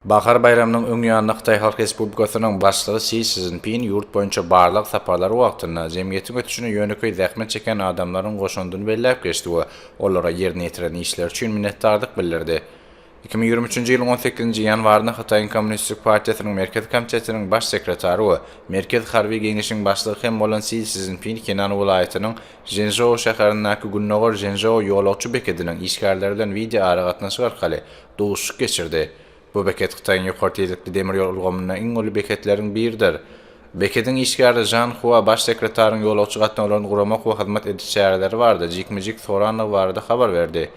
Bahar baýramynyň öň ýanynda Hytaý Halk Respublikasynyň Başlygy Si Szinpin ýurt boýunça barlag saparlary wagtynda jemgyýetiň ösüşine ýönekeý zähmet çekýän adamlaryň goşandyny belläp geçdi we olara ýerine ýetiren işleri üçin minnetdardyk bildirdi. Iki müň ýigrimi üçünji ýylyň on sekizinji ýanwarynda Hytaýyň Kommunistik partiýasynyň Merkezi komitetiniň Baş sekretary we Merkezi harby geňeşiň başlygy hem bolan Si Szinpin Henan welaýatynyň Ženžou şäherindäki Gündogar Ženžou ýolagçy bekediniň işgärleri bilen wideoaragatnaşyk arkaly duşuşyk geçirdi. Bu beket Hytaýyň ýokary tizlikli demir ýol ulgamynda iň uly beketleriň biridir. Bekediň işgäri Žan Hua baş sekretaryň ýolagçy gatnawlaryny guramak we hyzmat ediş çäreleri barada jikme-jik sorandygy barada habar berdi.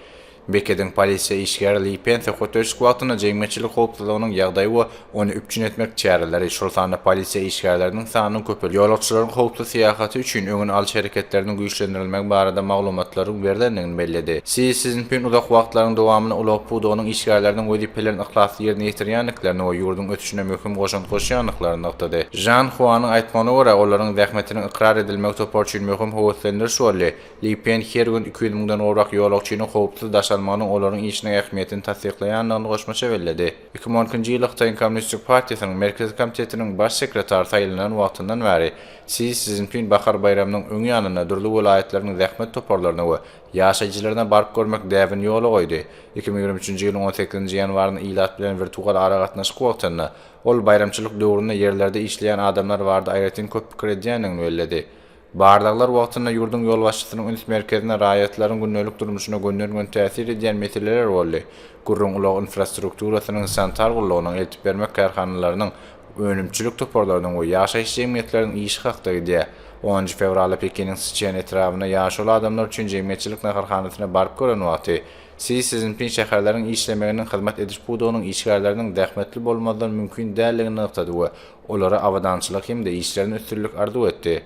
Bekediň polisiýa işgäri Li Pen söhbetdeşlik wagtynda jemgyýetçilik howpsuzlygynyň ýagdaýy we Ony üpjün etmek çäreleri, şol sanda polisiýa işgärleriniň sanynyň köpelip, ýolagçylaryň howpsuz syýahaty üçin öňüni alyş hereketleriniň güýçlendirilmegi barada maglumatlaryň berlendigini belledi. Si Szinpin uzak wagtlaryň dowamynda ulag pudagynyň işgärleriniň wezipelerini yhlasly ýerine ýetirýändiklerini we ýurduň ösüşine möhüm goşant goşýandyklaryny nygtady. Žan Huanyň aýtmagyna görä, olaryň zähmetiniň ykrar edilmegi topar üçin möhüm höweslendiriş boldy. Li Pen her gün iki ýüz müňden gowrak ýolagçynyň howpsuz daşalmagynyň olaryň işiniň ähmiýetini tassyklaýandygyny goşmaça belledi. Iki müň on ikinji ýyl Hytaýyň Kommunistik partiýasynyň Merkezi komitetiniň baş sekretary saýlanan wagtyndan bäri Si Szinpin bahar baýramynyň öň ýanynda dürli welaýatlaryň zähmet toparlaryna we ýaşaýjylaryna baryp görmek däbini ýola goýdy. Iki müň ýigrimi üçünji ýylyň on sekizinji ýanwarynda ilat bilen wirtual aragatnaşyk wagtynda ol baýramçylyk döwründe ýerlerde işleýän adamlar barada aýratyn köp pikir edýändigini belledi. Barlaglar wagtynda ýurduň ýolbaşçysynyň üns merkezine raýatlaryň gündelik durmuşyna gönden-gün täsir edýän meseleler boldy, gürrüň ulag infrastrukturasynyň, sanitar gullugynyň, eltip bermek kärhanalarynyň, önümçilik toparlarynyň we ýaşaýyş jemgyýetleriniň işi hakda gidýär. Onunjy fewralda Pekiniň Siçen etrabyna ýaşuly adamlar üçin jemgyýetçilik naharhanasyna baryp gören wagty, Si Szinpin şäherleriň işlemeginiň hyzmat ediş pudagynyň işgärleriniň zähmetli bolmazdan mümkin däldigini nygtady we olara abadançylyk hem-de işlerinde üstünlik arzuw etdi.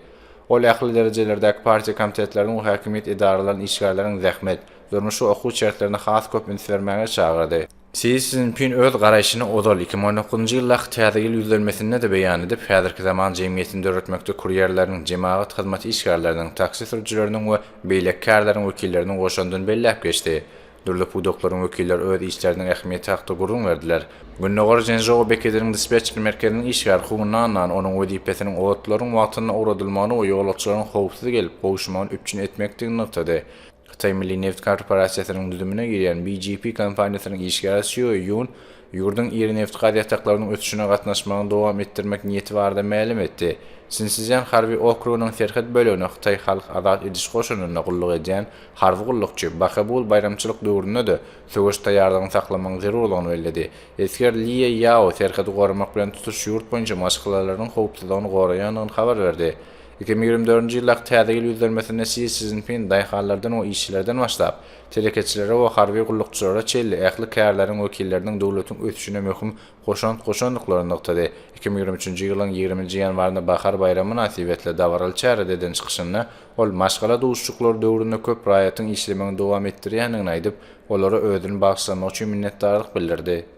Ol ähli derejelerdäki partiýa komitetleriniň we häkimiýet edaralarynyň işgärlerini zähmet, durmuş we okuw şertlerine has köp üns bermäge çagyrdy. Si Szinpin öz garaýşyny ozal, iki mü on dokuzynjy ýyldaky Täze ýyl ýüzlenmesinde-de beýan edip, häzirki zaman jemgyýetini döretmekde kurýerleriniň, jemagat hyzmaty işgärleriniň, taksi sürüjileriniň we beýleki kärleriň wekilleriniň goşandyny belläp geçdi. Dürli pudaklaryň wekilleri öz işleriniň ähmiýeti hakda gürrüň berdiler. Gündogar Ženzhou bekediniň dispetçer merkeziniň işgäri Hu Nannan onuň wezipesiniň otlaryň wagtynda ugradylmagyny we ýolagçylaryň howpsuz gelip, gowuşmagyny üpjün etmekdigini nygtady. Hytaý milli neft korporasiýasynyň düzümine girýän BGP kompaniýasynyň işgäri Sýue Ýun Ýurduň iri nebit-gaz ýataklarynyň ösüşine gatnaşmagyny dowam etdirmek niýeti barada mälim etdi. Sinszýan harby okrugynyň serhet bölegine Hytaý Halk Azat Ediş Goşunynda gulluk edýän harby gullukçy Bakabul baýramçylyk döwründe-de söweş taýýarlygyny saklamagyň zerurlygyny belledi. Esger Lie Ýao serhedi goramak bilen tutuş ýurt boýunça maşgalalarynyň howpsuzlygyny goraýandygyny habar berdi. Iki müňe ýigrimi dördünji ýyldaky Täze ýyl ýüzlenmesinde Si Szinpin daýhanlardan we işçilerden başlap, Telekeçilere we harby gullukçylara çenli ähli kärleriň wekilleriniň döwletiň ösüşine möhüm goşant goşandyklaryny nygtady. Iki müň ýigrimi üçünji ýylyň ýigrimi nji ýanwarynda Bahar baýramy mynasybetli dabaraly çärede eden çykyşynda, ol maşgala duşuşyklary döwründe köp raýatyň işlemegini dowam etdirýändigini aýdyp, olara özüni bagyşlamagy üçin minnetdarlyk bildirdi.